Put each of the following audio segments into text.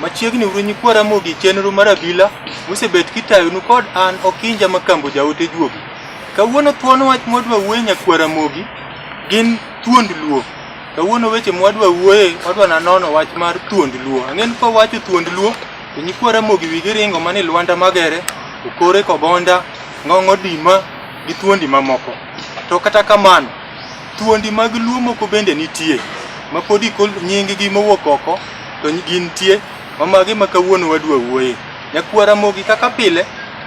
Machiegni uru nyikwa Ramogi chenro mar abila mosebet kitayonu kod an Okinja Makambo jaote juogi. Kawuono thuon wach mwadwa wuoye nyakwa Ramogi gin thuond luo. Kawuono weche mwadwa wuoye wadwa nanono wach mar thuond luo. Ang'en kwa wacho thuond luo to nyikwa Ramogi wigi ringo mani Lwanda Magere, Okore Kobonda, Ng'ong'o Dima gi thuondi mamoko. To kata kamano Thuondi mag Luo moko bende nitie ma pod ikol nyinggi mowuok oko to gintie ma magi ma kawuono wadwa wuoye. Nyakwara Mogi kaka pile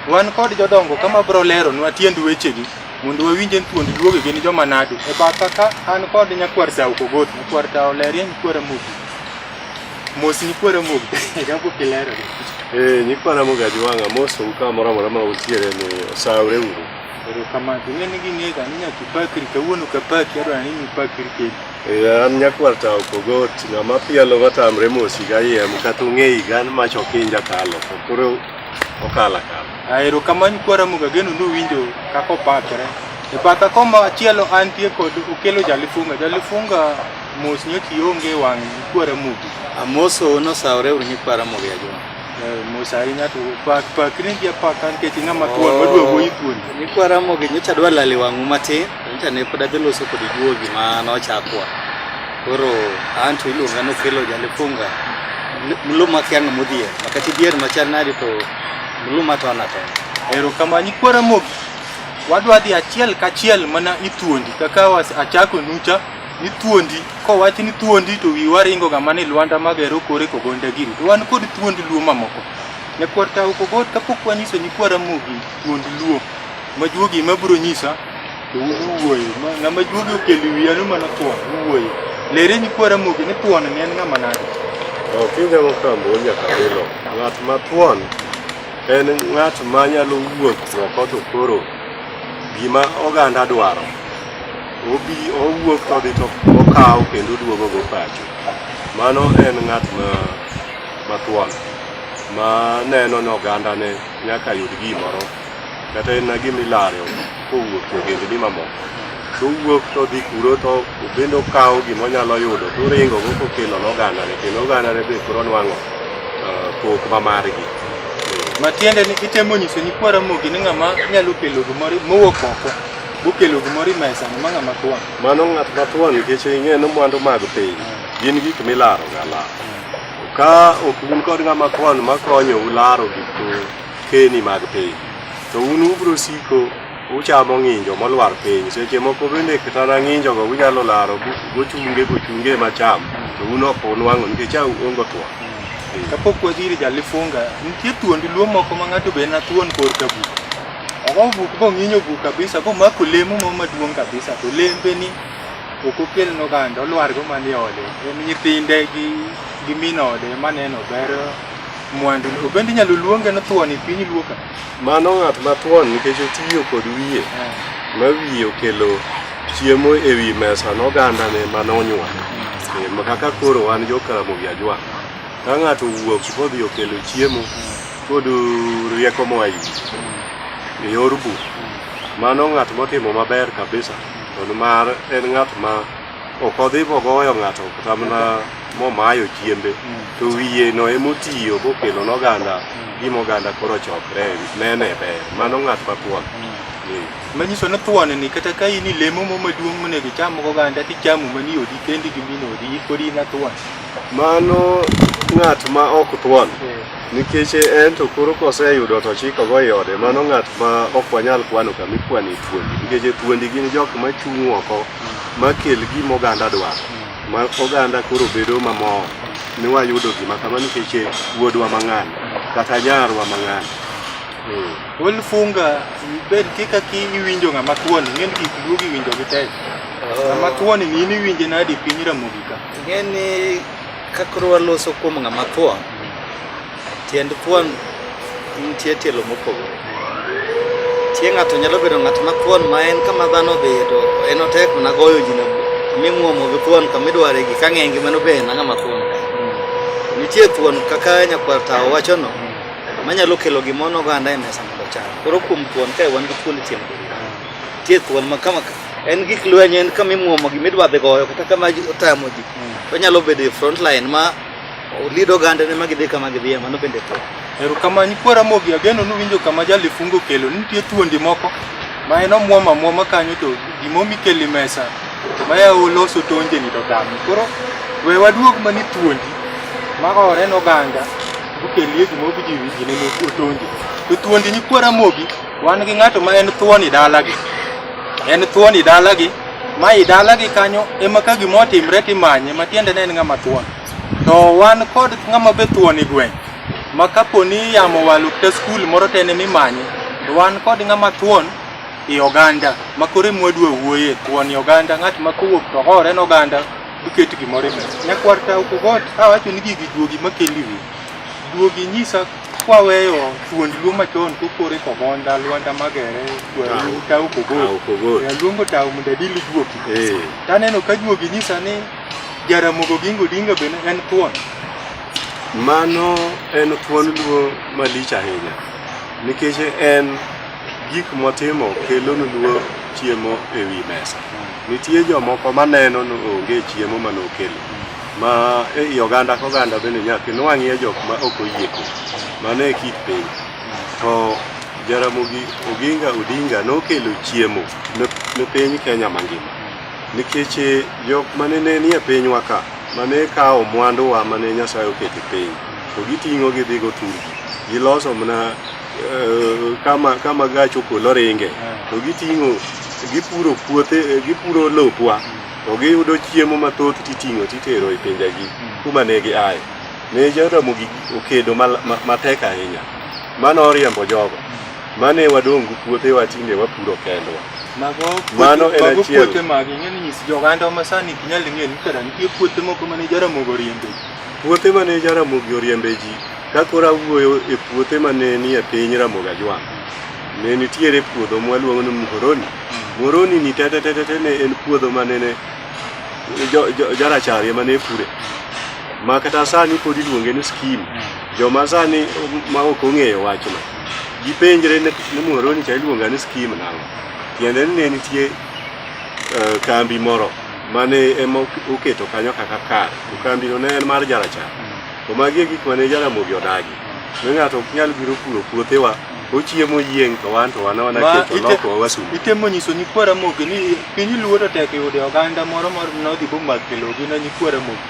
wan kod jodongo kama bro lero nwa tiend wechegi mondo wawinje thuondi luogi gin joma nadi. E batha ka an kod nyakwar Tao Kogot, nyakwar Tao Lerie, nyakwara Mogi. Mos nyakwara Mogi, jambo kilero. Eh, nyikwara Mogi Ajuwanga, mosou kamoro amora ma utiere ni osawre uru. Erokamano. To ing'e ni ging'ega ni nyaka ipakri kawuono ka paki adwa ni ipakri kendo. Eh, an nyakwar ta opogot ng'ama pielo matamre mos higa yiem kata ung'e higa an mach ok inja kalo to koro okala kala Ah, Erokamano kwara muga geno nowinjo kaka opakre. E batha koma chielo antie kod okelo jalifunga. Jalifunga mos nyoki onge wang' kwara mugi. Amoso nosawore uru nyikwara mogejo. Nikwaramog'e nyocha adwa lale wang'u matin, nyocha ne pod adhi loso kod juogi ma nochakwa. Koro anto iluonga nokelo jalifunga mluma kianga modhier makati dhier machal nadi to mluma to ana to. Erokamano Nikwaramog'e wadwa dhi achiel kachiel mana ithuondi kaka achako nucha ni thuondi kowach ni thuondi to wiwa ringo ga mani Lwanda magero kore kogonda giri to wan kod thuond Luo mamoko ne kwarta ukogot kapok wanyiso ni kwara mugi thuond Luo majuogi mabro nyisa to uwuoyo ng'ama juogi okeli wiya no mana thuon uwuoyo lere ni kwara mugi ni thuon ne en ng'ama nade Opinja mokambo nyaka bilo. Ng'at ma thuon en ng'at ma nyalo wuok oko to koro gima oganda dwaro Obi owuok to odhi to okawo kendo oduogo go pacho. Mano en ng'at ma mathuon ma neno ni ogandane nyaka yud gimoro kata en na gima ilaro kowuok e ogendni mamoko to owuok to odhi kuro to obende okawo gima onyalo yudo to oringo go kokelo ne ogandane kendo ogandane be koro nwang'o eh, pok ma margi. Matiende ni itemo nyiso nyikwa Ramogi ni ng'ama nyalo kelo gimoro mowuok oko Bokelo gimoro imesa ni manga matwa. Mano ng'at matwa nikech ing'e ni mwandu mag piny gin gik milaro ga la. Ka ok un kod ng'ama kwan makonyo ularo gik keni mag piny to un ubro siko uchamo ng'injo molwar piny seche moko bende kata na ng'injo go unyalo laro gochunge gochunge macham to un ok unwang'o nikech au ongo two kapok wadhiri jalifunga nitie thuondi luo moko ma ng'ato be na thuon kor kabu Okonvu kong'inyo bu kabisa ko mako lemo mo maduong' kabisa to lembe ni ok okel noganda olwar go manie ode en nyithinde gi gi min ode maneno ber mwandu obende inyalo luonge no thuon e piny luo ka Mano ng'at mathuon nikech otiyo kod wiye ma wiye okelo chiemo e wi mesa noganda ne mane onyuol. E, ma kaka koro wan jo Karamogi Ajwa. Ka ng'ato wuok kodhi okelo chiemo Kod rieko moa iri e yor buk. Mano ng'at motimo maber kabisa kendo mar en ng'at ma ok odhi mogoyo ng'ato kata mana momayo chiembe to wiye no emotiyo kokelo noganda gima oganda koro chokre nene ber mano ng'at mathuon manyiso ni thuon ni kata ka in ilemo mo maduong' monego icham oganda tichamo mani odi kendi gi min odi ipod in athuon mano ng'at ma ok thuon Nikech en to koro koseyudo to chikogo i ode, mano ng'at ma ok wanyal kwano kama ikwano e thuondi. Nikech e thuondi gin jok ma chung' oko ma kel gima oganda dwaro. Ma oganda koro bedo mamor ni wayudo gima kama nikech e wuodwa mang'ani kata nyarwa mang'ani. Eh. Wuon funga bed kika ki iwinjo ng'ama thuoni, ng'en gik luogi winjo gi tek. Ng'ama thuoni ni in iwinje nadi piny Ramogi ka? Ng'eni Ka koro waloso kuom ng'ama thuon, tiend thuon nitie tielo mopogore. Tie ng'ato nyalo bedo ng'at ma thuon ma en kama dhano odhiye to en otek mana goyo ji na mimuomo gi thuon kama idware gi ka ng'enge mano be en ng'ama thuon. Nitie thuon kaka nyakwar tawo wachono manyalo kelo gimono oganda e mesa mondo ocham. Koro kuom thuon kae wan gi thuon tieng' nitie thuon ma kama en gik lweny en kama imuomo gima idwa dhi goyo kata kama ji- otamo ji to nyalo bedo e front line ma lead oganda ne ma gidhi kama gidhiye mano bende to Erokamano nyikwa Ramogi, ageno nuwinjo kama jalifungo kelo. Nitie thuondi moko ma en omwom amwoma kanyo to gimomi keli mesa ma ya oloso tonjeni to dami. Koro we waduog mani thuondi ma ore noganga okelie gimobi ji ji neno otonje. To thuondi nyikwa Ramogi Wan gi ng'ato ma en thuoni dalagi, en thuoni dalagi ma i dalagi kanyo ema ka gima otimre timanye ma tiende ne en ng'ama thuon. To wan kod ng'ama be thuoni gweng' ma kapo ni yamo walu kata skul moro to en emimanye to wan kod ng'ama thuon i oganda ma koro ema wadwa wuoye thuon i oganda ng'at ma kowuok to hore en oganda duket gimoro e mesa. Nyakwar Tauku God awacho ni gigi duogi makendi wiyi. Duogi inyisa kwaweyo thuond luo machon kokore komonda lwanda magere tau kogol aluongo tau mondo adili juogi eh. taneno ka juogi nyisa ni jaramogo gingo dinga bende en thuon mano en thuon luo malich ahinya nikech en gik motimo kelonu luo chiemo e wi mesa nitie jomoko maneno ni onge chiemo manokelo ma ei oganda ka oganda bende nyaka inwang'ie jok ma ok oyie kodi mano e kit piny to Jaramogi Oginga Odinga nokelo chiemo ne- ne piny Kenya mangima nikech eh, jok mane ne nie pinywa ka mane kawo mwanduwa mane Nyasaye oketo e piny to giting'o gidhigo turgi giloso mana eh, kama kama gach okolo ringe to giting'o gipuro puothe eh, gipuro lopwa to giyudo chiemo mathoth titing'o titero e pinjegi hmm. kuma ne gi aye. Ne Jaramogi okedo matek ahinya. Mano oriembo jogo. Hmm. Mane wadongu puothe watinde wapuro kendwa. Mano en achiel. Mago puothe mag ing'eni nyis joganda ma sani ok nyal ng'eyo ni kara nitie puothe moko ma ne Jaramogi oriembe ji. Puothe ma ne Jaramogi oriembe ji ka koro awuoyo e puothe ma ne nie piny Ramogi Ajwang' ne nitiere puodho mwaluongo ni Muhoroni Moroni ni tete tete tete ne en puodho ma nene jo- jo- jarachar ema ne pure ma kata sani pod iluonge ni skim joma sani ma ok ong'eyo wachno gipenjre ni ni moroni cha iluonga ni skim nang'o tiende ni ne nitie eh, kambi moro mane ema ok- oketo kanyo kaka kar to kambino ne en mar jarachar to magi e gik mane jaramogi odagi ne ng'ato ok nyal biro puro puothewa Ochiemo yieng' to wan to wanona Ma, keto ite- loko wasungu. itemo nyiso nyikwara mogi ni piny luo to tek yude oganda moro mor nodhi bomak kelogi na nyikwara mogi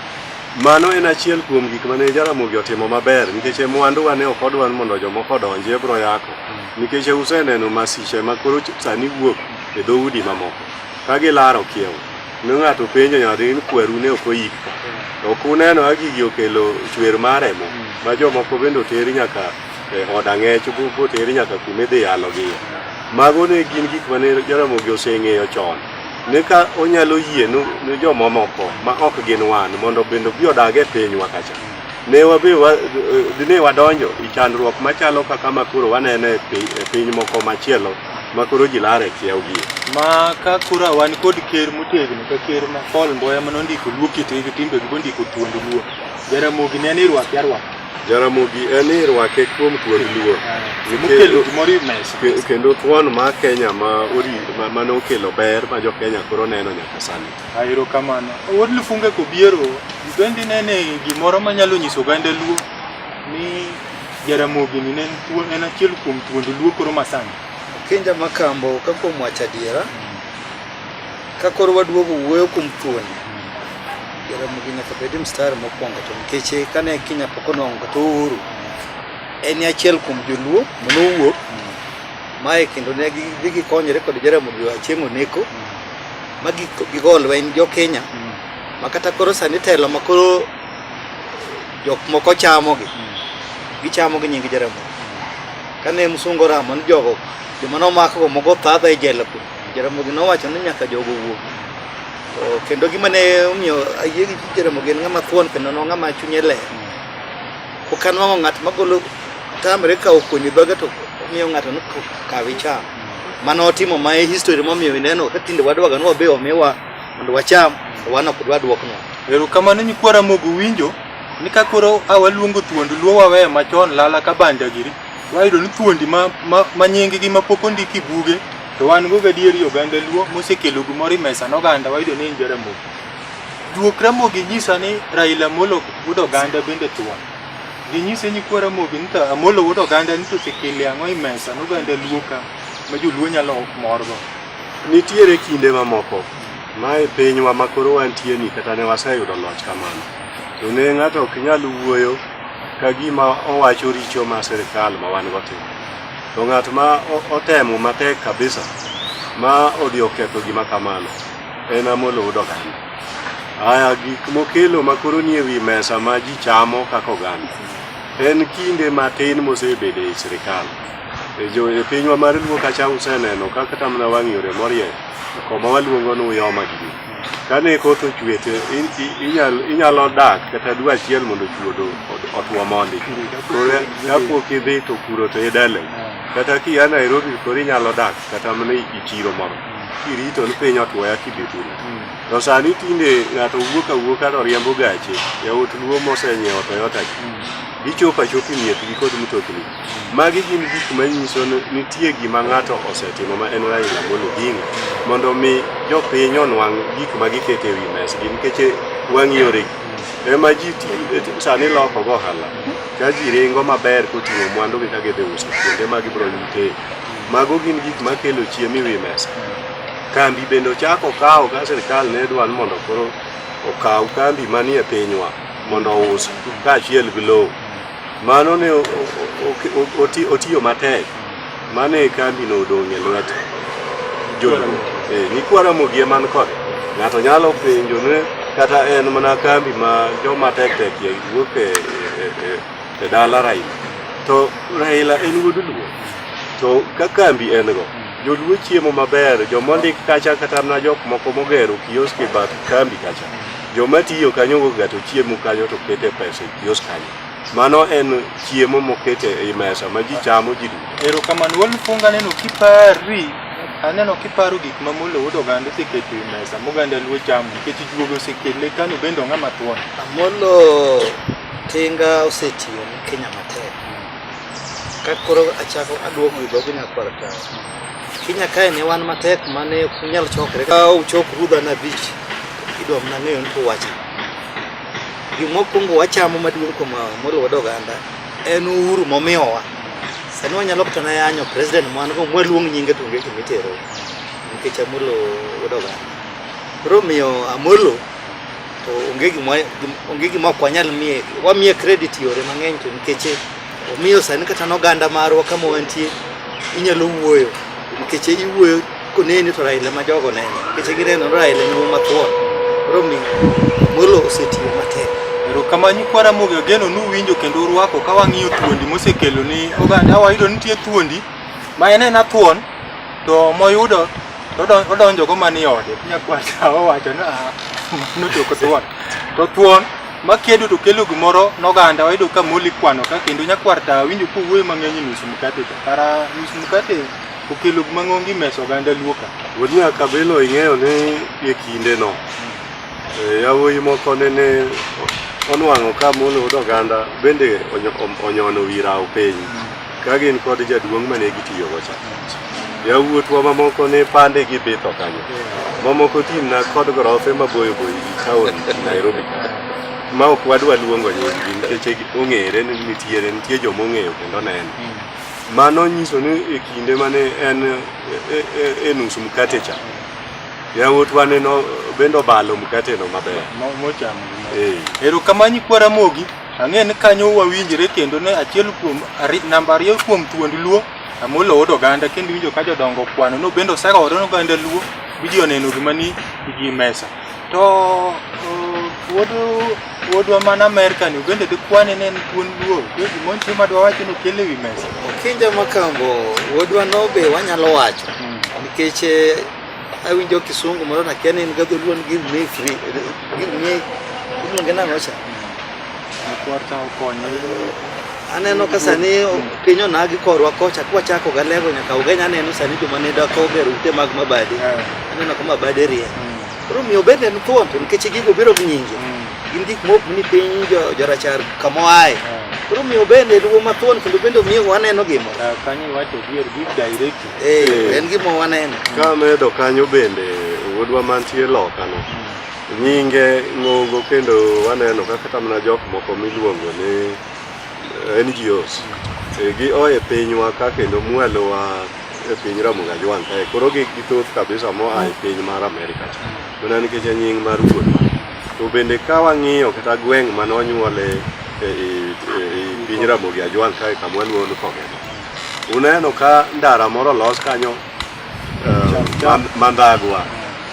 Mano en achiel kuom gik mane Jaramogi otimo maber nikech e mwanduwa ne ok odwar mondo jomoko odonji e bro yako nikech useneno masiche ma koro ch- sani wuok e dhoudi mamoko ka gilaro kiewo ne ng'ato penjo nyadhi ni kweru ne ok oyik ka ok uneno ka gigi okelo chwer mar remo ma jomoko bende oteri nyaka e od ang'ech botere nyaka kuma idhi yalogie. Mago ne gin gik ma ne Jaramogi oseng'eyo chon ni ka onyalo yie ni jomamoko ma ok gin wan mondo bende obi odag e pinywa kacha ne wabe dine wadonjo e chandruok machalo kaka ma koro waneno e, e piny moko machielo ma koro ji lar e kiewgi ma ka koro wan kod ker motegno ka ker ma Paul Mboya ma nondiko luo kitegi timbegi bondiko thuond luo Jaramogi ne ni rwaki arwaki Jaramogi en ni rwake kuom kuod luor Mokelo gimoro e mesa. Ke- kendo thuon ma Kenya ma ori ma- mane okelo ber ma jo Kenya koro neno nyaka sani. Aero kamano. Wuod Lufunga kobiero, ibendi nene gimoro manyalo nyiso oganda Luo ni Jaramogi ni ne en thuon- en achiel kuom thuond Luo koro masani. Kinja Makambo ka kuom wacho adiera, Ka koro waduogo wuoyo kuom thuon, Jaramogi nyaka bed mstar mokwongo to nikech eh, kane Kenya pok onwang'o kata uhuru, en e achiel kuom joluo mane owuok mae kendo ne gidhi gikonyore kod Jaramogi Achieng' Oneko ma gi- gigo lweny jo Kenya ma kata koro sani telo ma koro jok moko chamogi gichamo gi nying Jaramogi kane msungu oramo ni jogo joma nomakgo mogo thadha e jela kuno Jaramogi nowacho ni nyaka jogo wuo. To kendo gima ne omiyo ayie gi Jaramogi en ng'ama thuon kendo no ng'ama chunye ler. Ok anwang'o ng'at magolo tamre kawo kuonyi dhoge to omiyo ng'ato ni kawi cham. Mano otimo ma e history momiyo ineno ka tinde wadwaga ni wabe omiwa mondo wacham to wan ok dwa duokno. Erokamano nyikwa Ramogi uwinjo ni ka koro a waluongo thuond luo wawe machon lala ka banja giri. Wayudo ni thuondi ma, ma, ma nyinggi ma pok ondik e buge to wan go gadier i oganda Luo mosekelo gimoro e mesa ne oganda wayudo ni en Jaramogi. Juok Ramogi nyisa ni Raila Amolo wuod oganda bende thuon. Ginyise nyikwa Ramogi ni to Amolo wuod oganda ni to osekele ang'o e mesa ne oganda Luo ka ma joluo nyalo morgo. Nitiere kinde mamoko ma e pinywa ma koro wantieni kata ne waseyudo loch kamano, to ne ng'ato ok nyal wuoyo ka gima owacho richo ma sirkal ma wan go timo to ng'at ma otemo matek kabisa ma odhi oketho gima kamano en amoloud oganda aya gik mokelo makoro nie wi mesa ma ji chamo kaka oganda en kinde matin mosebedo e sirikal e jo e pinywa mar luo kacha useneno kaka tamna wang' yore morieny koma waluongo ni uyoma gi Kane koth ochwe to inyalo dak kata dwe achiel mondo chuodho otwo mondi. Koro kapok idhi to puro to idele. Kata kia Nairobi koro inyalo dak kata mana i chiro moro. Kirito ni piny otwo ya kidhi puro. To sani tinde ng'ato wuok awuoka to riembo gache. Yawuot luo mosenyiewo Toyota gi. Gichopo achopa e miechgi kod mtokni. Magi gin gik manyiso ni nitie gima ng'ato osetimo ma en Raila Amolo Odinga mondo mi jopiny onwang' gik ma giketo e wi mesgi nikech wang' yore ema ji sani loko go ohala ka ji ringo maber koting'o mwandu gi ka gidhi uso kuonde ma gibiro yute. Mago gin gik makelo chiemo e wi mesa. Kambi bende ochako kawo ka sirkal ne dwa ni mondo koro okaw kambi manie pinywa mondo ous kaachiel gi lowo. Mano ne otiyo matek, mano e kambino odong' e lwet joluo. Eh, nyikwa Ramogi ema ni kode. Ng'ato nyalo penjo ni kata en mana kambi ma joma tek tek ye wuok e, e, e, e dala Raila. To Raila en wuod luo. To ka kambi en go, joluo chiemo maber, joma ondik kacha kata mana jok moko mogero kioski bath kambi kacha. Joma tiyo kanyo ga to chiemo kanyo to kete pesa e kios kanyo. Mano en chiemo mokete e mesa ma ji chamo ji duto. Ero kamano wal funga neno kipari aneno kiparo gik ma mulo wuod oganda oseketo e mesa moganda luo chamo nikech juogo osekele kano bende ong'a mathuon. Amolo tinga osetiyo ne Kenya matek. Ka koro achako aduogo e dhogi nyakwar kawo. Kenya kae ne wan matek mane ok unyal chokre. Ka uchok rudha na beach idwa mna ng'eyo ni wacha. Gima okwongo wachamo maduong' kuom moriwo oganda en uhuru momiyowa. Sani wanyalo kata na yanyo president mwan go mwaluong nyinge to onge gima itero nikech Amolo wedo oganda. Koro miyo Amolo to onge gima onge gima ok wanyal miye wamiye credit yore mang'eny to nikech Omiyo sani kata n'oganda marwa kama wantie inyalo wuoyo nikech iwuoyo koneni to Raila ma jogo neno nikech gineno Raila ni wuo mathuon koro mi Amolo osetiyo matek erokamano nyikwa Ramogi Ogeno nuwinjo kendo urwako ka wang'iyo thuondi mosekelo ni oganda wayudo nitie thuondi ma en en athuon to moyudo odonjogo mani ode nyakwata owacho ni ah, mano jok thuon to thuon makedo to kelo gimoro noganda wayudo ka moli kwano ka kendo nyakwar ta winjo ka owuoyo mang'eny nus mkate to kara nus mkate okelo gima ng'ongi meso oganda luo ka wuodnya kabelo ing'eyo ni e kinde no eh, yawuoyi moko nene onwang'o ka molo od oganda bende onyo- onyono wi rawo piny Ka gin kod jaduong' ma ne gitiyogo cha, yawuotwa mamoko ne pande gi bitho kanyo. Mamoko timna kod gorofe maboyo boyo gi taon Nairobi ka. Ma ok wadwa luongo nyinggi nikech ong'ere ni nitiere nitie joma ong'eyo kendo neno. Mano nyiso ni e kinde mane en e- e- e- e nus mkate cha, yawuotwa ne no- bende obalo mkateno maber. Mo- Mochamo. Eh. Erokamano Nyikwa Ramogi. Ang'e ni kanyo wawinjre kendo ne achiel kuom namba ariyo kuom thuond Luo Amolo Odo Oganda kendo winjo ka jodongo kwano no bende osegore no ganda Luo biji oneno gima ni igi mesa. To wuodu wuodwa man Amerika ni bende dikwane ne en thuond Luo kendo gimon chi madwa wacho no kele wi mesa. Kinja makambo wuodwa no be wanyalo wacho nikech Awinjo kisungu moro nakia ni en gadholuo ni give me free give me iluonge nang'o cha Kwarta okonyo. aneno ka sani piny onagi korwa kocha kwachako galego nyaka ugeny aneno sani joma ne dako ger ute mag mabade aneno ka mabade rie koro miyo bende en thuon to nikech gigo biro gi nyingi gin gik mok ni piny jo- jorachar kamoae koro miyo bende luwo mathuon kendo bende miyo waneno gimo Kanyo iwacho dier give directly. Eh, en gima waneno. Ka medo kanyo bende wuodwa mantie loka no. Nyinge ng'ongo kendo waneno ka kata mana jok moko miluongo ni eh, NGOs. Eh, Gi oye pinywa ka kendo mwalowa e piny Ramogi Ajwang' kae. Koro gi githoth kabisa moa e piny mar Amerika cha. Mana nikech en nying mar wuodwa. To bende ka wang'iyo kata gweng' mane onyuole e, e, e, e piny Ramogi Ajwang' kae kama waluongo ni Kogema. Uneno ka ndara moro los kanyo eh, mandhagwa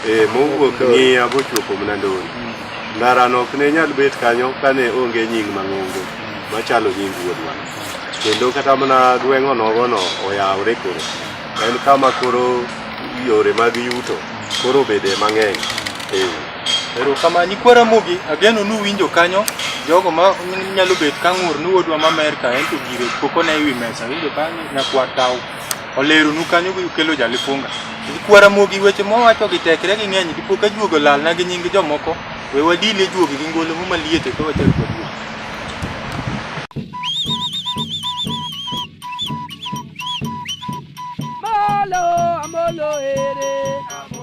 eh, mowuok ng'iya bochopo Mnandoni. Ndarano ok ne nyal bet kanyo kane onge nying mang'ongo machalo nying wuodwa. Kendo kata mana gweng'o nogono oyawore koro. En kama koro yore mag yuto koro bede mang'eny. Eh. Erokamano. Nyikwa Ramogi ageno nuwinjo kanyo jogo ma nyalo bet ka ng'ur ni wuodwa ma Amerka en to gire pok one ewi mesa winjo ka nyakwar tawo oleronu kanyo kelo jalifunga. Nyikwa Ramogi weche mowacho gi tekre gi ng'eny dipo ka juogo lalna gi nying jomoko we wadil e juogi gi ngolo muma liete ka wachak waduogo. Amolo, amolo, eh.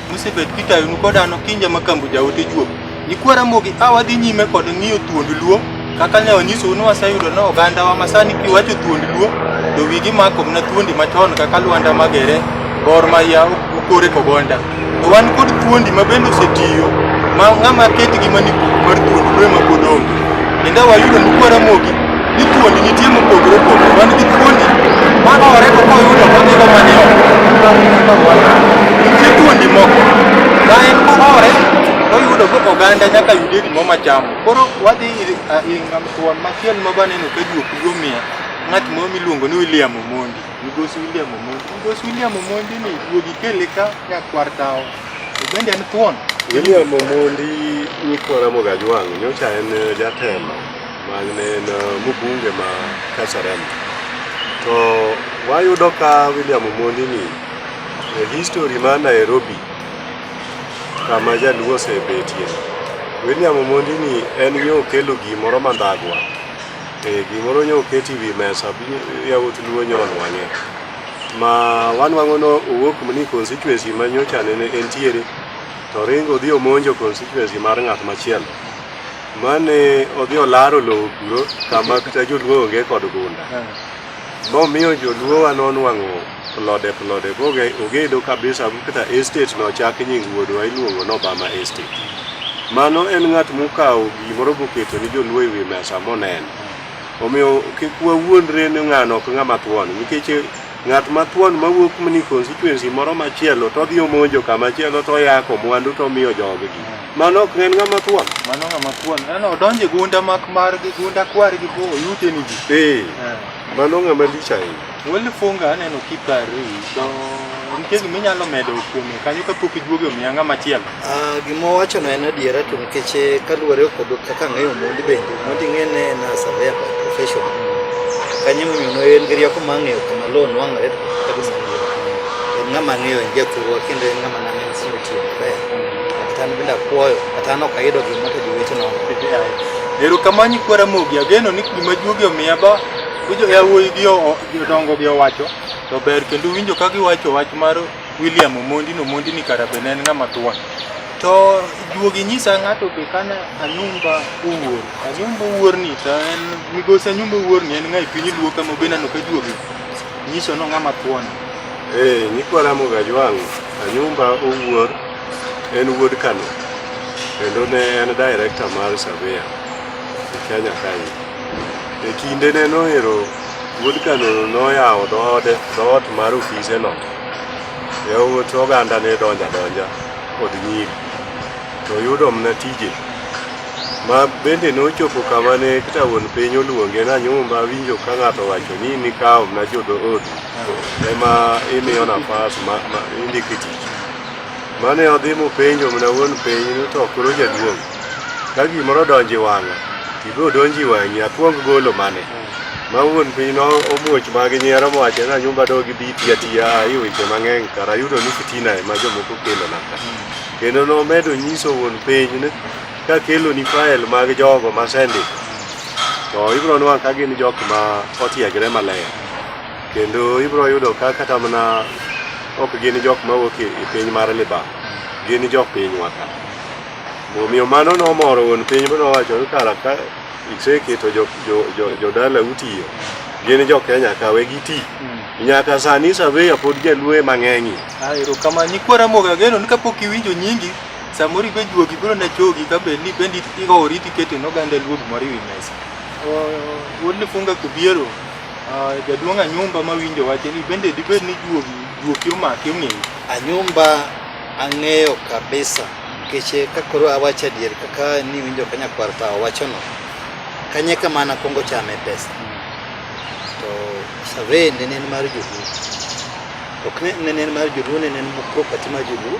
Musebet kitayonu kod an Okinja ma kambo jaote juok. Nyikwa Ramogi a wadhi nyime kod ng'iyo thuond Luo kaka ne wanyisou ni waseyudo ni ogandawa ma sani kiwacho thuond Luo to wigi mako mana thuondi machon kaka Lwanda Magere, Gor Mahia, Okore Kogonda. To wan kod thuondi ma bende osetiyo ma ng'ama ketgi mani mar thuond Luo ema pod onge. Kendo wayudo ni Nyikwa Ramogi ni thuondi nitie mopogore opogore wan gi thuondi ma ore kaka oyudo kodhigo mane nitie thuondi moko ma en ma ore oyudo go oganda nyaka yude gimo machamo koro wadhi ingam thuon machiel ma baneno ka juok gomiya ng'at moro miluongo ni William Omondi migosi William Omondi migosi William Omondi ni duogi kele ka nyakwar tawo to bende en thuon William Omondi Nyikwa Ramogi Ajwang' nyocha en jatelo Magnen mubunge ma Kasarani. To wayudo ka William Omondi ni e history ma Nairobi kama jaluo osebetie. William Omondi ni en yo kelo gimoro mandhagwa. E gimoro nyo oketi wi mesa bi yawuot luo nyon wang'e. Ma wanwang'o no owuok ni constituency ma nyocha nene entiere to ringo dhi omonjo constituency mar ng'at machielo. Mane odhi olaro lowo kuro kama kata joluo onge kod gunda. Momiyo joluo wa nonwang'o plode plode boge ogedo kabisa kata estate no chak nying wuodwa iluongo no Bama Estate. Mano en ng'at mokawo gimoro boketo ni joluo e wi mesa moneno. Omiyo kik wawuondre ni ng'ano ok ng'ama thuon nikech ng'at ma thuon mawuok mni constituency moro machielo to odhi omonjo kama chielo to oyako mwandu to omiyo joggi. Mano ok en ng'ama thuon. Mano ng'ama thuon. Neno odonjo e gunda mak mar gi gunda kwar gi bo oyute ni ji. Eh. Eh. Mano ng'ama lich ahinya. Wali funga aneno kipari to nitie gima inyalo medo kuome kanyo kapok iduogo e omiya ng'ama chielo. Ah, gima owachono en adiera to nikech eh, kaluwore kod kaka ang'eyo mondi bende mondi ng'ene en a surveyor by profession kanyo emomiyo ne en gi rieko ma ang'eyo kama loan wang'ore to kaka gima en ng'ama ang'eyo en jathurwa kendo en ng'ama nang'eyo erokamani kwara mogi ageno ni gima juogi omiya ba winjo yawuoyi gi jodongo gi owacho to ber kendo winjo ka giwacho wach mar William Omondi no Omondi ni karabe ne en ng'ama thuon to juogi nyisa ng'ato be kana anyumba owuor anyumba owuor ni to en migosi anyumba owuor ni en ng'a e piny luo kama be nano ka juogi Nyiso no ng'ama thuon. Eh, nyikwa Ramo Gajwang' Anyumba Owuor en wuod Kano kendo ne en director mar Savia e Kenya kae. E kinde ne noero wuod Kano noyawo dhoode dhoot mar ofise no. Yawuot oganda ne donja donja kod nyiri. to oyudo mna tije ma bende nochopo kama ne kata wuon piny oluonge na nyumba awinjo ka ng'ato wacho ni nikawo mna jodood ema imiyo nafas ma, ma indike tich mane odhi mopenjo mna wuon piny ni to koro jaduong' ka gimoro donji wang'a ibo donji wang'i akwong golo mane ma wuon piny no omuoch magi nyiero mowacho na nyumba dogi bi tiya tiya ayi weche mang'eny kara ayudo ni fitina ema jomoko kelo naka Kendo nomedo nyiso wuon piny ni ka keloni fael mag jogo ma sendik to ibiro nwa ka gin jok ma otiegre maler kendo ibiro yudo ka kata mana ok gin jok ma wuok e e piny mar libam gin jok pinywa ka omiyo mano nomoro wuon piny mowacho ni kara ka Iseketo jo, jo, jo, jodala utiyo gin jo Kenya kawe gi ti mm. nyaka sani saveya pod jaluo ema ng'eng'ie. Ah, erokamano nyikwa Ramogi ageno ni kapok iwinjo nyingi samoro ibe juogi biro na chogi ka bed ni bende ihoori tikete noganda luo gimoro ewi mesa. Wuod Lifunga Kubiero ah, jaduong' Anyumba mawinjo wache ni bende dibed ni juogi juoki omaki ong'eyi. Anyumba ang'eyo kabisa. Nikech eh, ka koro awacho adier kaka ni winjo ka nyakwar ta owachono, kanye kama nakwongo chame pesa to survey nene en mar joluo ok ne- nene en mar joluo nene en property mar joluo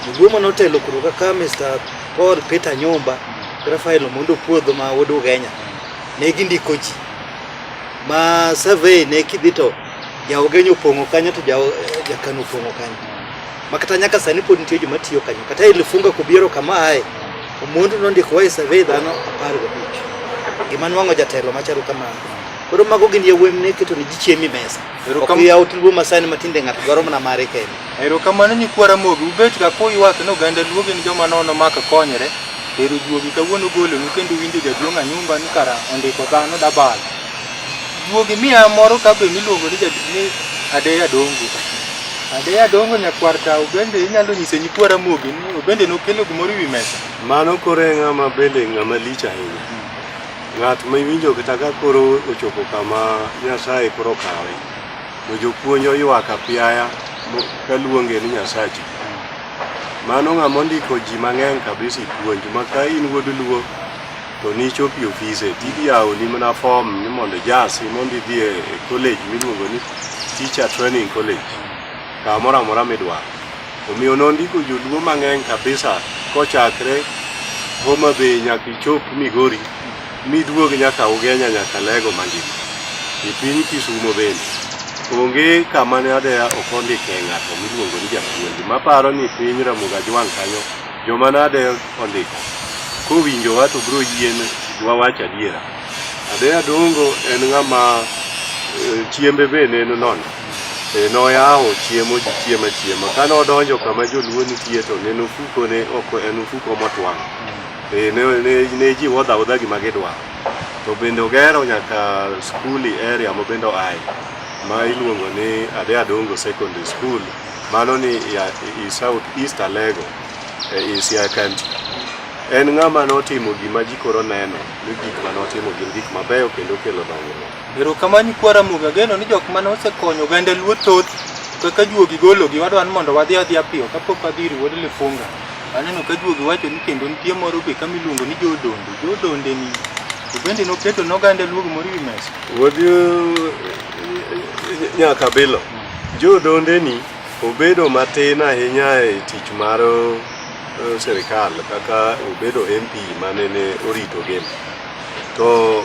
joluo mane otelo kuro kaka Mr. Paul Peter Nyumba gi Rafael Omondo Puodho ma wuod Ugenya ne gindiko ji ma survey ne kidhi to ja Ugenya opong'o kanyo to ja- ja Kano opong'o kanyo makata nyaka sani pod nitie joma tiyo kanyo kata ilifunga kubiero kama aye omondu nondiko wae survey dhano apar gabich gima nwang'o jatelo machalo kamano koro mago gin yawuoyi mne keto ni ji chiemi mesa ok yaw tulwo masani matinde ng'ato dwaro mana mare kende erokamano nyikwa ramogi ubet ka kuywak ni oganda luo gin joma nono maka konyre ero juogi kawuono golonu kendo winjo jaduong' anyumba ni kara ondiko dhano dabalo Duogi miya moro ka be miluongo ni jadolo ni Adeya Adongo. Adeya Adongo nyakwar tao bende inyalo nyise nyikwa Ramogi ni bende nokelo gimoro ewi mesa. Mano koro e ng'ama bende ng'ama lich ahinya. Ng'at ma iwinjo kata ka koro ochopo kama Nyasaye koro kawe. To jopuonj oywak apiaya mo- kaluonge ni Nyasachi. Mano ng'ama ondiko ji mang'eny kabisa e puonj ma ka in wuod Luo to nichop e ofise tidhi yawoni mana fom ni mondo ijasi mondo idhi e college miluongo ni teacher training college kamoro amora midwaro omiyo nondiko joluo mang'eny kabisa kochakre Homa Bay nyaka ichop Migori miduog nyaka Ugenya nyaka Lego mangima e piny Kisumo bende onge kama ne adeya ok ondike ng'ato miluongo ni japuonj maparo ni piny Ramogi Ajwang' kanyo Joma nade ondiko? Kowinjowa to biro yien wawach adiera. Adeya Dongo en ng'ama eh, chiembe be ne nono. E, noyawo chiemo ji chiema chiema. Kane odonjo kama joluo nitie to ne ofuko ne ok en ofuko motwang'. E, ne, ne, ne ji wodha wodha gima gidwa. To bende ogero nyaka skuli area ma bende oaye ma iluongo ni Adeya Dongo Secondary School Mano ni ya i South East Alego e in Siaya County. En ng'ama notimo gima ji koro neno ni gik ma notimo gin gik mabeyo kendo kelo dongruok. Erokamano Kwara Muga, ageno ni jok mane osekonyo oganda Luo thoth kaka juogi gologi wadwa ni mondo wadhi adhiya piyo kapok wadhi ir wuod Lifunga. Aneno ka juogi wacho ni kendo nitie moro be kama iluongo ni Jodonde. Jodonde ni to bende noketo ne oganda Luo gimoro e wi mesa. Wuod eh, Nyakabilo. Jodondeni obedo matin ahinya e tich mar eh, sirikal kaka obedo MP manene orito gem. To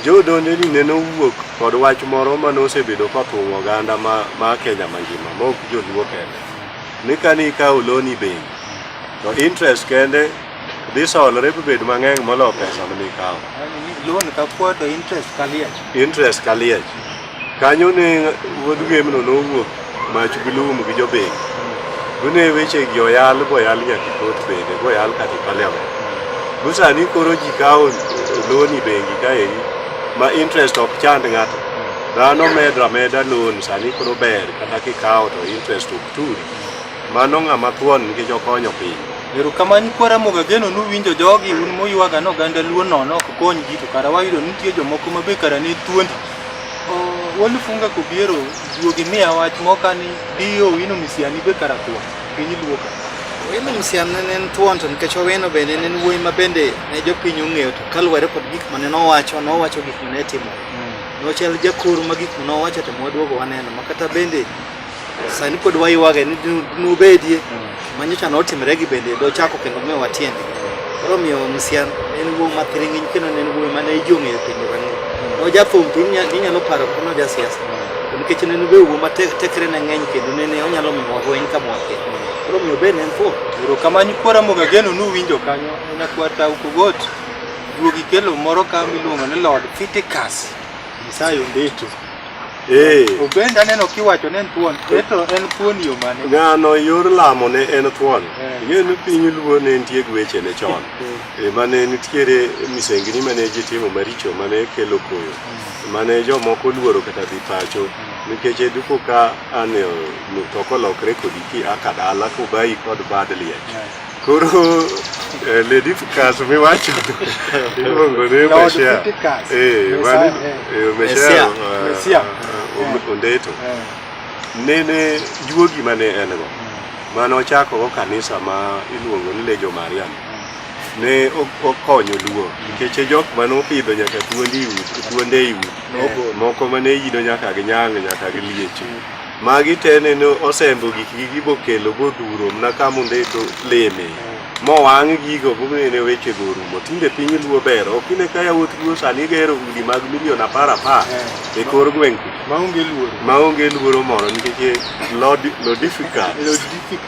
jodondeni nene owuok kod wach moro mane osebedo kothung'o oganda ma, ma Kenya mangima ma ok joluo kende ni kani ikawo loni bengi to interest kende dhi solore bibed mang'eny molo pesa mane ikawo Loan ka kuo to interest ka liech. interest ka liech Kanyo ne wuod gwemno nowuok mach gi lum gi jobeng. Gune weche gi oyal boyal nyaka kot bende boyal kata parliament. Go sani koro ji kawo loni bengi kaeri ma interest ok chand ng'ato. Dhano medra meda loan sani koro ber kata kikawo to interest ok turi. Mano ng'ama thuon nikech okonyo piny. Erokamano kwara Mogageno nuwinjo jogi un muywaga ni oganda luo nono ok kony ji to kara wayudo ni nitie jomoko ma be kara ne thuondi. Walifunga kobiero duogi miya wach moka ni dio wino misiani be karatwa piny luoka. Wino misiani ne en thuon to nikech wawino bende ne en wuoyi ma bende ne jopiny ong'eyo to kaluwore kod gik mane nowacho nowacho gik mane timo. Hmm. Nochal jakuru ma gik mane owacho to mwaduogo waneno makata bende sani pod wayuage ni nubedie manyocha notimre gi bende dochako kendo miyo watiende koro miyo msian en wuo mathiringiny kendo ne en wuo mane ijong'eyo piny rango nojathum to inyalo paro kono jasiasa to nikech ne en wuo matekre ne ng'eny kendo nene onyalo miyo wahweny ka mwake koro miyo ben en thuo erokamano kwara mogageno nuwinjo kanyo nyakwata ukogot duogi kelo moro ka miluongo ni lord fitikas misayo ndeto Eh. Obenda neno kiwacho ne en thuon, eto en thuon yo mane? Ng'ano yor lamo ne en thuon. Eh. Ing'eyo ni piny luo ne nitie gi weche ne chon. Eh. Eh, mane nitiere misengini mane ji timo maricho mane kelo koyo. Mm. Mane jomoko luoro kata dhi pacho. Mm. Nikech e duko ka an to kolokre kodi ki aka dala kubayi kod bad liech. Koro eh, lady Picasso mi wacho iluongo ni Lord Mashia. Picasso. Eh, Messiah, mani eh. eh, Messiah, Messiah. eh, Messiah. eh, Om- Ondeto. Eh, Nene juogi mane en go. Mane ochako go kanisa ma iluongo ni Legion Mariam. Ne o- okonyo luo nikech e jok mane opidho nyaka thuondi i udi, thuonde i udi. Moko mane yido nyaka gi nyang' nyaka gi liech. Magi te nene osembo gikgi gibokelo boduro mna kamunde to leme mowang' gigo bominene wechego orumo tinde piny luo ber ok ine ka yawuot luo sani gero udi mag milion apar apar e kor gweng' ku maonge luoro maonge luoro moro nikech lod lodifikat logistic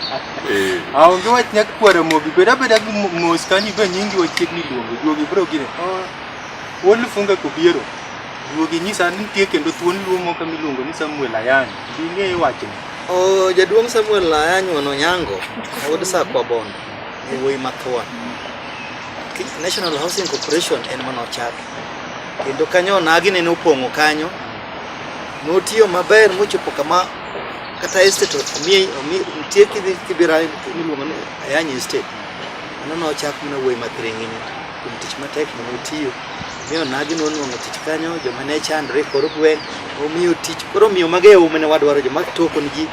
eh aonge wach nyak kwara mogi bed abeda gi mo- mos kanyo ibe nyingi wachiegni luongo duogi bro gine oh, wolufunga kobiero Duogi nyisa ni nitie kendo thuon luo moko miluongo ni Samuel Ayany. Be ing'eyo wachni? Oh, jaduong' Samuel Ayany Wano Nyango, wuod Sakwa Bondo, e wuoyi mathuon. Ki- National Housing Corporation en mana ochako. Kendo kanyo onagi nene opong'o kanyo. Notiyo maber mochopo kama kata estate omiye omi nitie kidhi kibira miluongo ni Ayany estate. Mano nochak mana wuoyi mathiring'ini. kuom tich matek ma notiyo. Miyo nagi nonwang'o tich kanyo, joma ne chandre kor gweng' omiyo tich. Koro miyo mage e ume ne wadwaro joma toko ni ji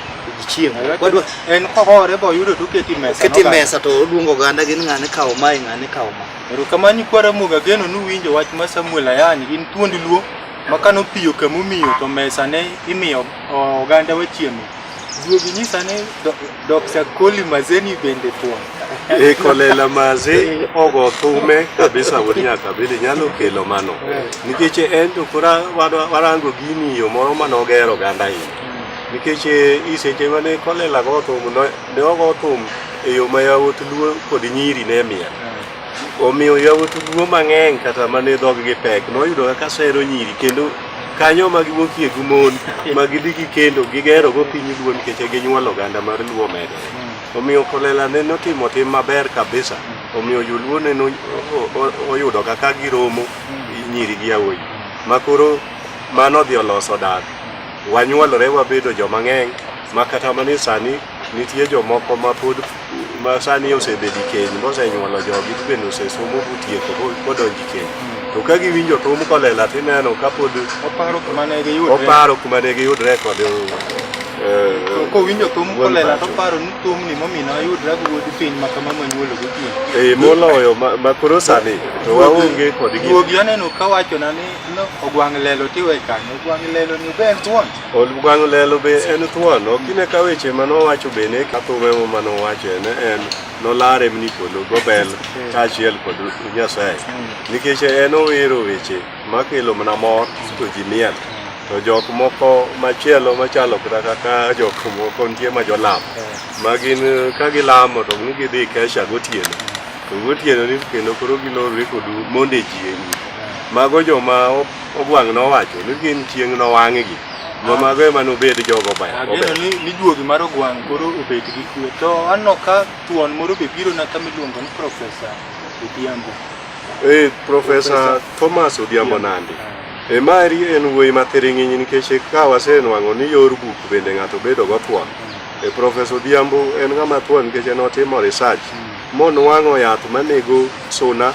chiemo. Wadwa en kohore bo yudo to keti mesa. Keti mesa to odwongo oganda gin ng'ane kawo mae ng'ane kawo ma. Erokamani kwara muga geno nuwinjo wach ma Samuel Ayani gin thuond luo makano piyo kamumiyo to mesa ne imiyo oganda wachiemo. Ruoth nyisa ni Dr. Koli Mazeni bende tuo. E kolela maze ogo thume kabisa wuod nyaka bende nyalo kelo mano. Nikech en to kora warango gini yo moro mane ogero oganda hii. Nikech iseche mane kolela go thum ne ogo thum e yo ma yawuot luo kod nyiri ne miel. Omiyo yawuot ruo mang'eny kata ma ne dhoggi pek noyudo kaka sero nyiri kendo kanyo ma giwuokie gi mon ma gidhi gikendo gigerogo piny luo nikech e ginyuolo oganda mar luo medore omiyo kolela ne notimo tim maber kabisa omiyo joluo ne no- o- o- oyudo kaka giromo nyiri gi yawuoyi ma koro mano odhi oloso dak wanyuolore wabedo joma ng'eny ma kata mani sani Nitie jomoko ma pod ma sani osebedo e keny mosenyuolo jogi to bende osesomo motieko modonjo e keny. To ka giwinjo thum kolela to ineno ka pod Oparo kuma ne giyudre. oparo kuma ne giyudre kod eh, To Kowinjo thum wuon kolela pacho. to paro ni thumni momina ayudra gi wuod piny ma kama manyuolo gotieno. Eh, moloyo ma- ma koro sani to waonge kod gima Duogi aneno ka wachona ni no, ogwang' lelo tiwe kanyo. Ogwang' lelo ni obend thuon. Olugwang' lelo be en thuon, ok ine ka weche ma nowacho be ne kathume ma nowacho en en nolare ni polo gobel kaachiel kod Nyasaye nikech en owero weche makelo mana mor to ji miel to jok moko machielo machalo kata kaka jok moko nitie ma jolam ma gin ka gilamo to ni gidhi kesha gotieno to gotieno ni kendo koro gilorre kod monde ji e nyim mago joma Ogwang' nowacho ni gin chieng' nowang'gi. Mama ge mano bed jogo ba. Ageno ni ni juogi mar ogwang' koro obet gi kwe. To anno ka thuon moro be biro na kama iluongo ni Professor Odhiambo. Eh, Professor Thomas Odhiambo Nandi. E mari en wuoyi mathiring'inyi nikech ka wasenwang'o ni yor buk bende ng'ato bedo go thuon. E Professor Odhiambo en ng'ama thuon nikech en otimo research monwang'o yath manego suna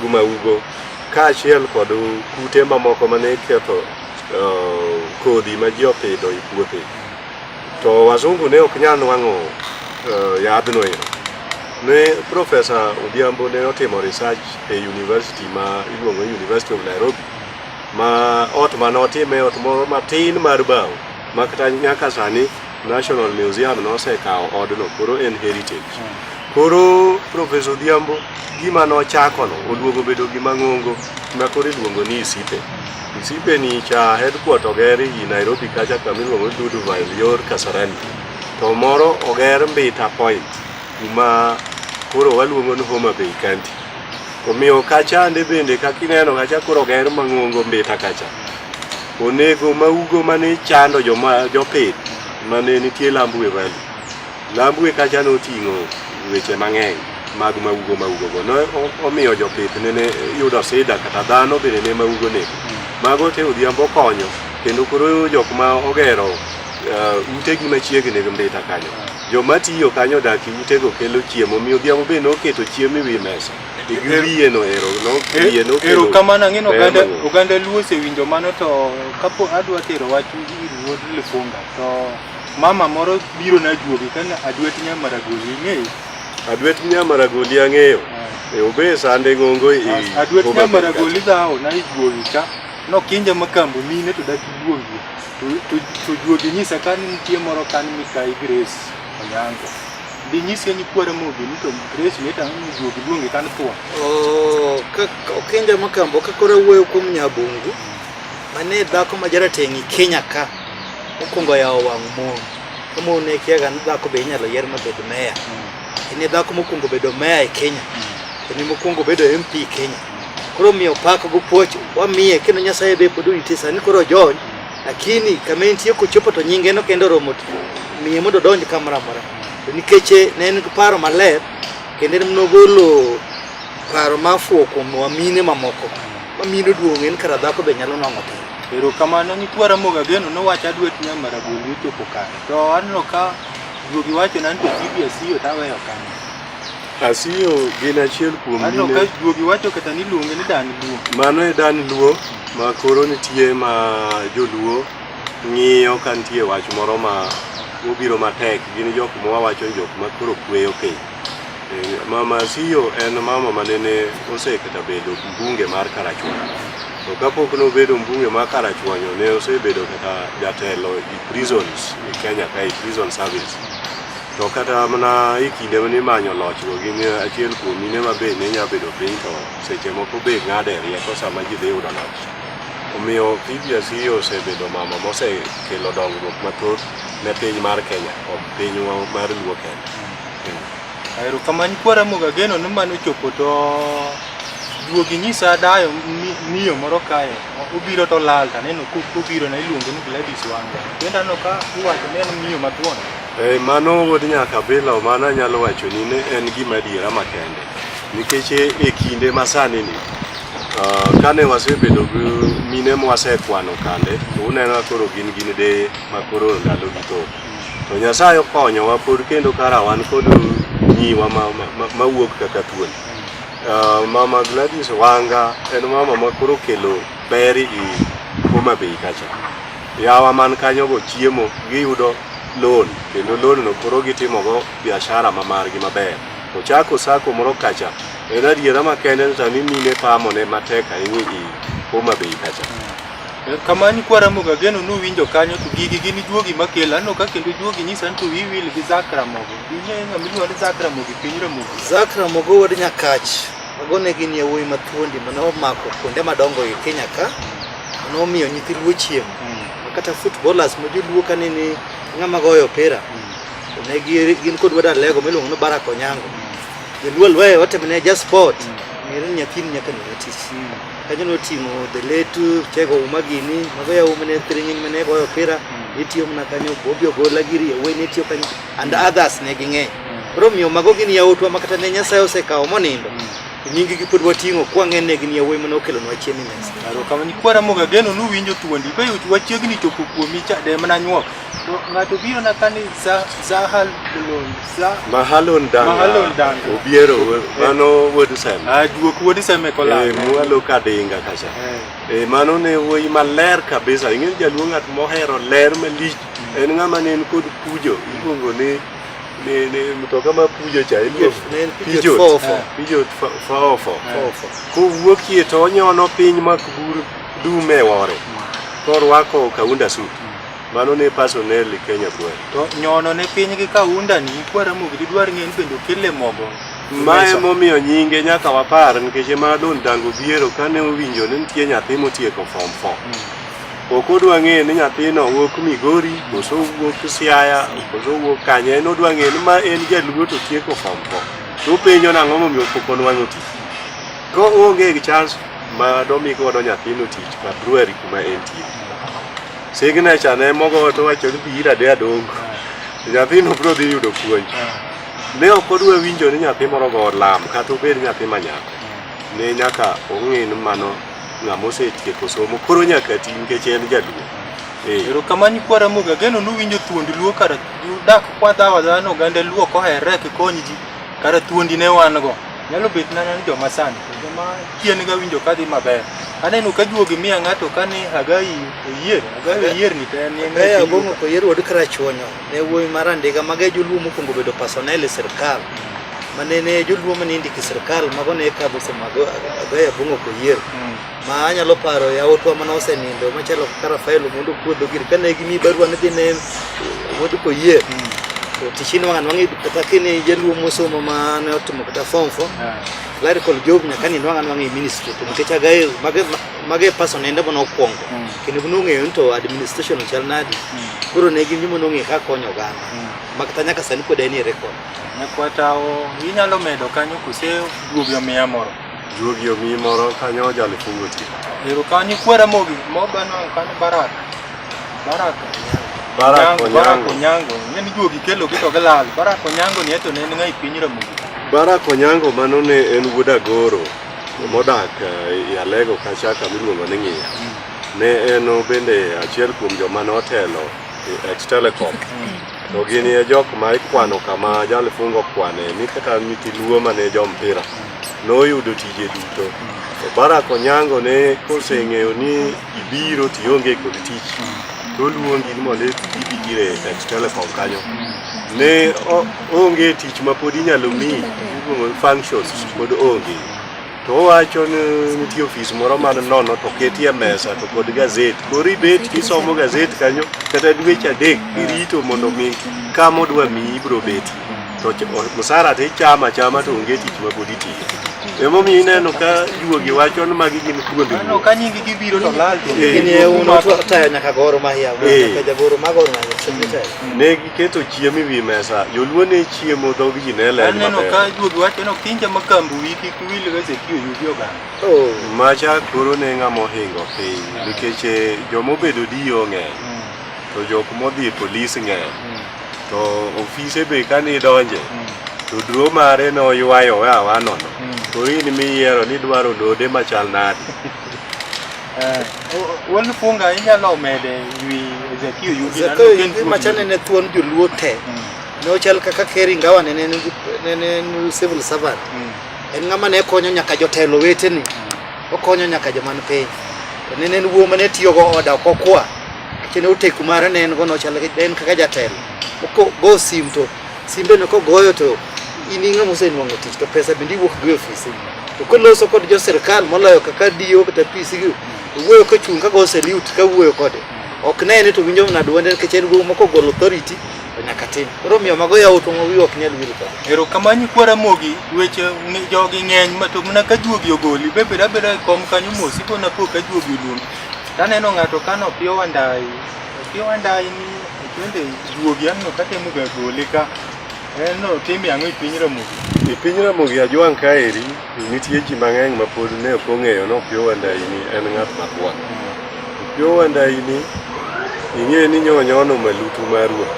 gi maugo. Kaachiel kod kute mamoko mane ketho uh, kodhi ma ji opidho e puothe. To wazungu ne ok nyal nwang'o uh, yadhno ero. Ne Profesa Odhiambo ne otimo research e university ma iluongo University of Nairobi ma ot mane otime ot moro matin mar bao ma kata nyaka sani National Museum nosekawo odno koro en heritage. Koro Professor Odhiambo gima nochakono oduogo bedo gima ng'ongo ma koro iluongo ni Isipe. Isipe ni cha headquarter oger i Nairobi kacha kama iluongo ni Duduville yor Kasarani. To moro oger Mbita Point kuma koro waluongo ni Homa Bay County. Omiyo kachande bende kaka ineno kacha koro ger mang'ongo mbita kacha. Onego maugo mane chando joma jopith mane nitie Lambwe Valley. Lambwe kacha noting'o weche mang'eny mag maugo maugo go. Ne omiyo jopith nene yudo sida kata dhano bende ne maugo nego. Mago te odhiambo okonyo kendo koro jok ma ogero uh, utegi machiegni gi mbita kanyo Joma tiyo kanyo odak e utego kelo chiemo, mi odhiambo be noketo chiemo e wi mesa. To gi Er- wiye noero, no, E- wiye nokelo. Erokamano ang'e ni ber oganda mang'eny. oganda Luo osewinjo mano to kapo adwa tero wach ir wuod Lifunga to mama moro biro na juogi kana adwet nya maragoli ing'eyo. Adwet Nyamaragoli ang'eyo. E obe sande ng'ongo e As- Adwet Homa nya Bay maragoli dhawo na ijuogi ka nokinja makambo mine to dak ijuogi. Tujuogi nyisa ka ni nitie moro ka ni Mikai Grace Onyango. Di nyise ni kwara mobi ni to Grace ni ta ni juogi luonge ka ni thwa. Oh, ka okenja makambo ka kora wuoyo kuom Nyabungu. Mane dhako ma jarateng' i Kenya ka. Mokwongo yawo wang' mon. Kamo ne kiaga ni dhako be inyalo yier mabed meya. En e dhako mokwongo bedo meya e Kenya. En e mokwongo bedo MP Kenya. Koro miyo pak go puoch wamiye kendo Nyasaye be pod orite sani koro jony lakini kama entie kochopo to nyinge no kendo romo miye mondo donj kamoro amora to nikech eh, ne en paro maler kendo en nogolo paro mafuwo kuom wamine mamoko mamine duong' en kara dhako be nyalo nwang'o piny erokamano nyikwa ramoga geno nowacho adwet nya maragoli ochopo kare to aneno ka juogi wachona ni to cbs yo taweyo kanyo Asiyo gin achiel kuom mine. Aneno ka juogi wacho kata ni luonge ni Dan Luo. Mano e Dan Luo ma koro nitie ma joluo ng'iyo ka nitie wach moro ma obiro matek. Gin jok ma wawacho jok ma koro kweyo piny. Eh, mama Asiyo en mama ma nene osekata bedo mbunge mar Karachuonyo. To kapok nobedo mbunge mar Karachuonyo ne osebedo kata jatelo e prisons e Kenya kae, prison service. to kata mana e kinde mane imanyo lochgo gin achiel kuom mine ma be ne nya bedo piny to seche moko be ng'ade rieko sama ji dhi yudo loch omiyo PBC osebedo mama mosekelo dongruok mathoth ne piny mar Kenya kod pinywa mar Luo Kenya. Aero kamani kwara moga geno ni mano chopo to duogi nyisa dayo miyo moro kae obiro to lal taneno kobiro na iluongo ni Gladys Wanga. Bende aneno ka iwacho ni en miyo mathuon. Eh, mano wuod nyaka bila mano anyalo wacho ni ne en gima adiera makende nikech e, e kinde masani ni uh, kane wasebedo gi mine mwasekwano kande to uneno koro gin gin de makoro ndalo gi to to Nyasaye okonyowa pod kendo kara wan kod nyiwa mawuok kaka thuol uh, mama Gladys Wanga en mama makoro kelo ber i Homa Bay kacha yawa man kanyogo chiemo giyudo loan kendo loan no koro gitimogo biashara ma margi maber ochako sako moro kacha en adiera makende ni sani mine pamone matek ahinya i Homa Bay kacha kamani kwaramoga geno nuwinjo kanyo to gigi gin juogi makelo aneno ka kendo juogi nyisa ni to wiwil gi zak ramogo ing'eyo ng'ama iluongo ni zak ramogo e piny ramogo Zak Ramogo wuod Nyakach, mago ne gin yawuoyi mathuondi mane omako kuonde madongo e Kenya ka, mane omiyo nyithi luo chiemo. Kata footballers ma joluo ka nini ng'ama goyo opira. Mm. Ne gi gin kod wada lego miluongo ni Barako Nyango. Joluo lwe watemne ja sport. Mm. Ngere nyakin nyaka ni otis. Mm. Kanyo no timo the late uh, tego uma gini mago ya uma ne tringi mane goyo opira. Mm. Itiyo mna kanyo bobio gola giri ya weni itiyo kanyo and mm. others ne ging'e. Mm. Romio mago gini ya utwa makata ne nyasayo se kao monindo. Mm. nyingi gi pod wating'o kwang'e ne gin yawuoyi mane okelonwa chiemo mesa karo kama ni kwara moga geno nu winjo thuondi be yot wachiegni chopo kuomi cha de mana nyuok to ng'ato biro na kani za zahal lon za mahalon danga mahalon danga obiero mano wuod sem a ah, duok wuod sem e kola e eh, mualo ka dinga kacha e mano ne wuoyi maler kabisa ing'e jaluo ng'at mohero ler malich mm. en ng'ama ne en kod pujo iluongo ni ni ni mtoka ma pujo cha en Pijot, ne en pijot pijot fofo. Eh. pijot fa- faofo Fofo. kowuokie to onyono piny mak bur dume wore korwako kaunda suit mano ne pasoneli kenya kwel to nyono ne piny gi kaunda ni kwara mogi didwar ng'e ni bende okele mogo mae momiyo nyinge nyaka wapar nikech ema don dango biero kane owinjo ni nitie nyathi motieko form 4 ok odwa ng'eyo ni nyathino wuok Migori koso wuok Siaya koso wuok kanye en odwa ng'eyo ni ma en jaluo to tieko form four to openjo nang'o momiyo pok onwang'o tich ka oonge gi chance ma domi godo nyathino tich ka Brewery kuma entie signature ne mogo to wacho ni bi ira de adongo nyathino biro dhi yudo puonj ne ok odwa winjo ni nyathi moro go lam kata obed nyathi manyako ne nyaka ong'e ni mano Ng'ama osetieko somo koro nyaka ti nikech en jaduong'. Eh. Erokamano kwa Ramogi, ageno nuwinjo thuond Luo kara udak kwadhawo adhawa ni oganda Luo ok oherre ok ikony ji, kara thuondi ne wan go. Nyalo bet nana ni joma sani, to joma chien ga winjo ka dhi maber. Aneno ka juogi miya ng'ato ka ni Hagai Oyier, Hagai Oyier ni to en en Hagai Abong'o Oyier wuod Karachuonyo. Ne wuoyi mar andiga maga e joluo mokwongo bedo personnel e sirkal ma nene joluo mane indiko e sirkal mago ne kadho sama agoyo abong'o koyier hmm. ma anyalo paro yawotwa mane osenindo machalo kaka Rafael Omondo Kuodho gir kane gimi barua ne dhi ne Omondo Koyier hmm. to tichini wang'an wang'e kata kini jaluo mosomo ma ne otimo kata form four clerical job nyaka ni wang'an wang'e ministry to nikech agayo mage person ende mane okwongo mm. kendo ne ong'eyo ni to administration chal nadi mm. koro ne gin joma nong'eyo kaka konyo oganda mm. makata nyaka sani pod en e rekod nyakwatawo inyalo medo kanyo kose duogi omiya moro duogi omiyi moro kanyo ojalo fungo ti ero kanyo kwera mogi mobano kanyo barak barak barak onyango onyango ne ni duogi kelo gi to gilal barak onyango ni eto ne en ng'ai piny ramogi barak onyango mano ne en wuod agoro Modak eh, Yalego kacha kama iluongo ni Ng'iya ne en bende achiel kuom joma ne otelo e ex telecom to gin e jok ma ikwano kama jalifungo kwane ni kata nyithi luo ma ne jo mpira noyudo tije duto to Barack Onyango ne koseng'eyo ni ibiro to ionge kod tich to oluongi ni mondo ibi ire e telekom kanyo ne onge tich ma pod inyalo mi functions pod onge to owacho ni nitie ofis moro man nono to ketie mesa to kod gazeti koro ibet isomo gazeti kanyo kata dweche adek irito mondo mi kama odwa miyi ibiro beti to musara to ichama chama to onge tich ma pod itiyo emomiyo ineno ka juogi wacho ni magi gin thuondi ka nyingi gibiro to lal e uno tayo nyaka goro mahia nyaka jagoro magoro mahia ne giketo chiemo e wi mesa joluo ne chiemo dhog ji ne ler maber aneno ka juogi wacho no kinja makambu wiki kuwil ga sekio yudi oganda macha koro ne ng'ama ohingo piny nikech joma obedo diyo ng'eny to jok modhi e polis ng'eny to ofise be kane idonje mm. to dro mare noywayo we awa nono mm. to in miyiero ni dwaro lode machal nadi eh, Wuon Funga inyalo mede wi Zakio Yugi Zakio Yugi machane ne thuon joluo te mm. ne ochal kaka Keri Ngawa ne ne civil servant en ng'ama ne konyo nyaka jotelo weteni okonyo nyaka joman piny to ne en wuo mane tiyogo oda kokwa Kendo oteku mare ne en go nochal en kaka jatelo. Oko go sim to simbe no kogoyo to in ing'ama osenwang'o tich to pesa bende iwuok go e ofisi. To koloso kod jo sirkal moloyo kaka DO kata PC gi wuoyo ka chung' ka go salute ka wuoyo kode. Ok ne ni to winjo mna duonde nikech en go moko golo authority to nyaka tim. Koro miyo mago yawo to wi ok nyal wil kode. Ero kamanyi kwara mogi weche ngi- jogi ng'eny ma to mana ka juogi ogoli be beda beda e kom kanyo mos ipo na po ka juogi oluongi. Taneno ng'ato kano opiyo wandayi, opiyo wandayi ni tinde juogi anno katemo ga gole ka en no timi ang'o e piny Ramogi? E piny Ramogi ajwang' kaeri nitie ji mang'eny ma pod ne ok ong'eyo ni Opiyo Wandayi ni en ng'at makwar. Opiyo Wandayi ni ing'e ni nyonyono malutu mar ruoth.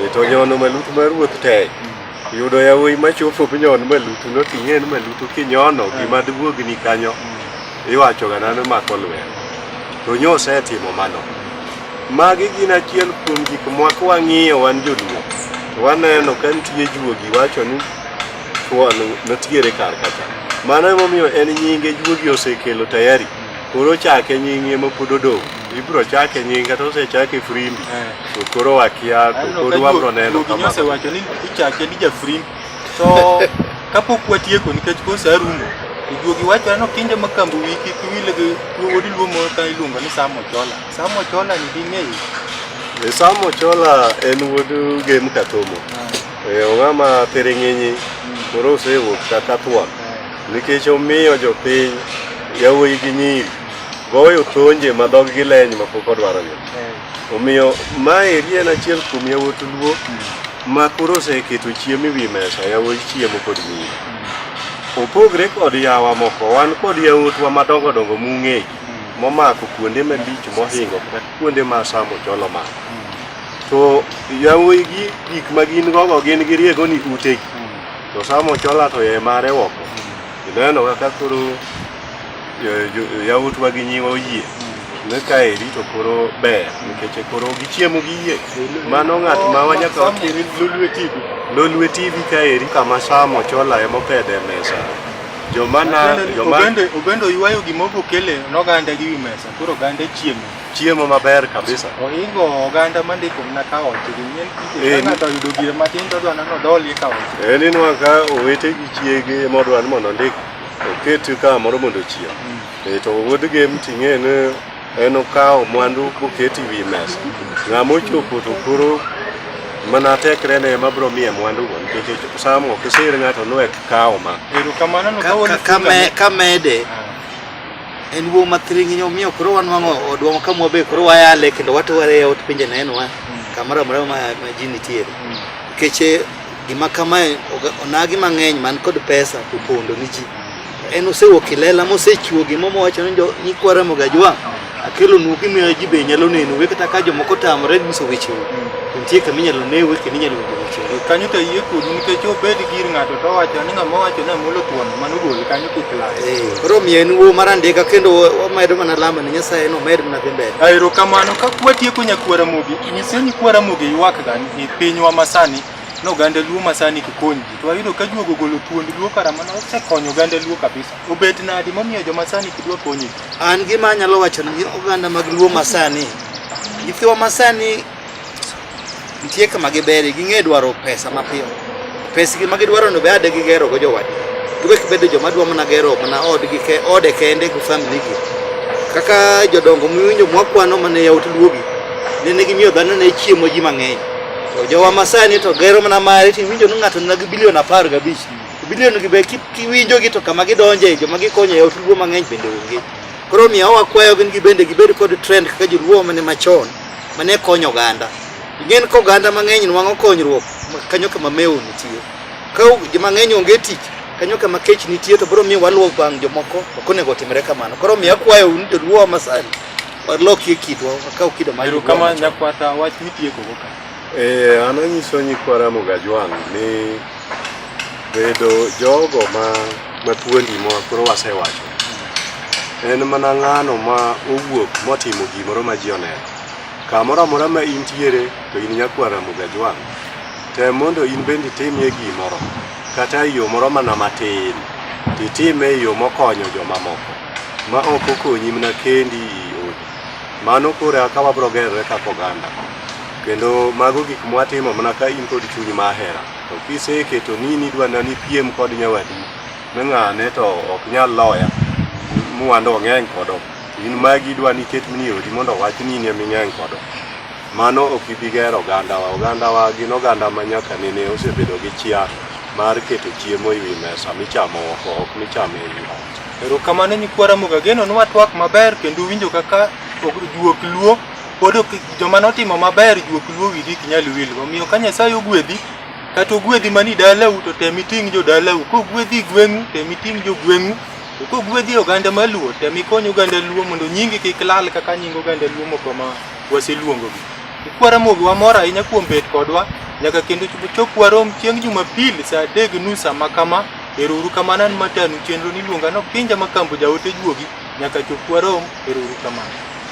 E, to nyono malutu mar ruoth tek. yudo yawuoyi machopo nyon malutu noting'e ni malutu kinyono eh. gima duwuogni kanyo mm. iwachoga nano mako lwer to nyo osetimo mano magi gin achiel kuom gik mwaka wang'iyo wan joluo waneno ka nitie juogi wacho ni thuon notiere kar kacha mano emomiyo en nyinge juogi osekelo tayari koro chake nyingi ema pod odong' Ibro chake nyinga to se chake frimbi. Eh. To koro wakia to koro wabro neno kama. Nyose wacho ni ichake ni ja frimbi. To kapok watieko nikech kose arumo. Ijuogi wacho no kinde ma kambu wiki kiwile gi wodi luomo ka iluongo ni Samo Chola. Samo Chola ni ding'eyo. E eh, Samo Chola en wuod Gem Katomo. Ah. E eh, ong'ama Piring'inyi hmm. koro osewuok kaka thuon eh. nikech omiyo jopiny yawuoyi gi nyiri Goyo tonje ma dhog gi leny ma pok odwaro gi. Omiyo ma eri en achiel kuom yawuot luo ma koro oseketo chiemo ewi mesa, yawuot chiemo kod nyiri. Opogre kod yawa moko, wan kod yawuotwa madongo dongo mung'eyo momako kuonde malich mohingo kata kuonde ma saa mochol omako. To yawuoyi gi gik ma gin gogo gin giriego ni utegi. To saa mochola to e mare oko. Ineno kaka koro yawuotwa gi nyiwa oyie ne ka eri to koro ber nikech e koro gichiemo gi yie mano ng'at ma wanyaka wakiri lolwe tv lolwe tv ka eri kama samo chola emopedhe e mesa jomanaobende oywayo gima okokele noganda gi wi mesa koro oganda chiemo chiemo maber kabisa ohingo oganda mandiko mna ka oche ng'ato oyudo gire matin todwa nano dholie ka oche en inwa ka owete gi chiege modwa ni mondo ondik oketi ka moro mondo ochiem mm. e, to wuod gem ting'e ni en okawo mwandu koketi wi mesa ng'ama ochopo to koro mana tekre ne ma bro miye mwandu go nikech samo ok isir ng'ato nwek kawo ma kamede ah. en wuo mathiringi omiyo koro wan wang'o odwamo ka mwabe koro wayale kendo watware yaot pinje neno wa mm. kamoro amora ma ji nitiere mm. nikech Gima kamae onagi mang'eny man kod pesa to pondo ni ji. En osewuok ilela mosechiwo gima mowacho ni nyikwa Ramogi Ajwang' akelo nu gimiyo ji be nyalo neno we kata ka jomoko tamore nyiso weche nitie kama inyalo ne we kendo inyalo winjo weche kanyo to yie kudu nikech obed gir ng'ato to wacho ni ng'ama wacho ni amulo thuon mano gol kanyo kik lal eh, koro miyo en wuo mar andika kendo wamedo mana lamo ni nyasaye no med mana dhi mbele aero kamano ka kwatieko nyakwara mogi nyise nyikwara mogi ywak gani E pinywa masani no oganda luo masani kikony ji to wayudo ka juogo golo thuond luo kara mana osekonyo oganda luo kabisa obet nadi momiyo joma sani kidwa konyi an gima anyalo wacho ni oganda mag luo masani nyithiwa masani nitie kama giberi ging'e dwaro pesa mapiyo Pesgi ma gidwarono be ade gigerogo jowadgi. Giwek bedo joma dwa mana gero mana odgi ke, ode kende gi familigi. Kaka jodongo miwinjo mwakwano mane yawuot luogi ne ne gimiyo dhano ne chiemo ji mang'eny. To jowa masani to gero mana mare tiwinjo ni ng'ato nigi bilion apar gabich. Bilion gi be ki- kiwinjogi to kama gidonje joma gikonyo e yawuot luo mang'eny bende onge. Koro miyo wakwayo gin gibende gibed kod trend kaka joluo mane machon mane konyo oganda ing'en ka oganda mang'eny nwang'o konyruok kanyo kama mewo nitie ka mang'eny onge tich kanyo kama kech nitie to biro miyo waluwo bang' jomoko ok onego otimre kamano koro miyo akwayo un joluo wa masani walokie kitwa wakaw kido mar Ero kama nyakwata wach mitieko go ka. Eh, an anyiso nyikwa Ramogi Ajwang' ni Bedo jogo ma matuondi ma koro wasewacho en mana ng'ano ma owuok motimo gimoro ma ji oneno. Kamoro amora ma intiere to in nyakwar Ramogi Ajwang', tem mondo in bende itimie gimoro kata e yo moro mana matin to itime e yo mokonyo jomamoko ma ok okonyi mana kendi i odi. Mano koro eka wabiro gerore kaka oganda. Kendo mago gik mwatimo mana ka in kod chuny ma hera. To kiseketo ni nidwa na nipiem kod nyawadu ni ng'ane to ok nyal loya mwando ong'eny kodo. In magi idwa niket ni odi mondo wach ni in eming'eny kodo. Mano ok ibi gero ogandawa. Ogandawa gin oganda ma nyaka nene osebedo gi chia mar keto chiemo e wi mesa michamo oko ok micham e wi ot. Erokamano nyikwa Ramogi ageno ni watwak maber kendo uwinjo kaka juok luo pod ok joma notimo maber juok luo wigi ok nyal wil. Omiyo ka Nyasaye ogwedhi kata ogwedhi mani dalau to tem iting' jo dalau. Kogwedhi gweng'u tem iting' jo gweng'u. To kogwedhi oganda maluo tem ikony oganda luo mondo nyingi kik lal kaka nying oganda luo moko ma waseluongogi. Ikwara mogi wamor ahinya kuom bet kodwa nyaka kendo chop warom chieng' Jumapil saa adek gi nus sama kama. Ero uru kamano an matanu chenro niluonga no Kinja Makambo jaote juogi nyaka chop warom. Ero uru kamano.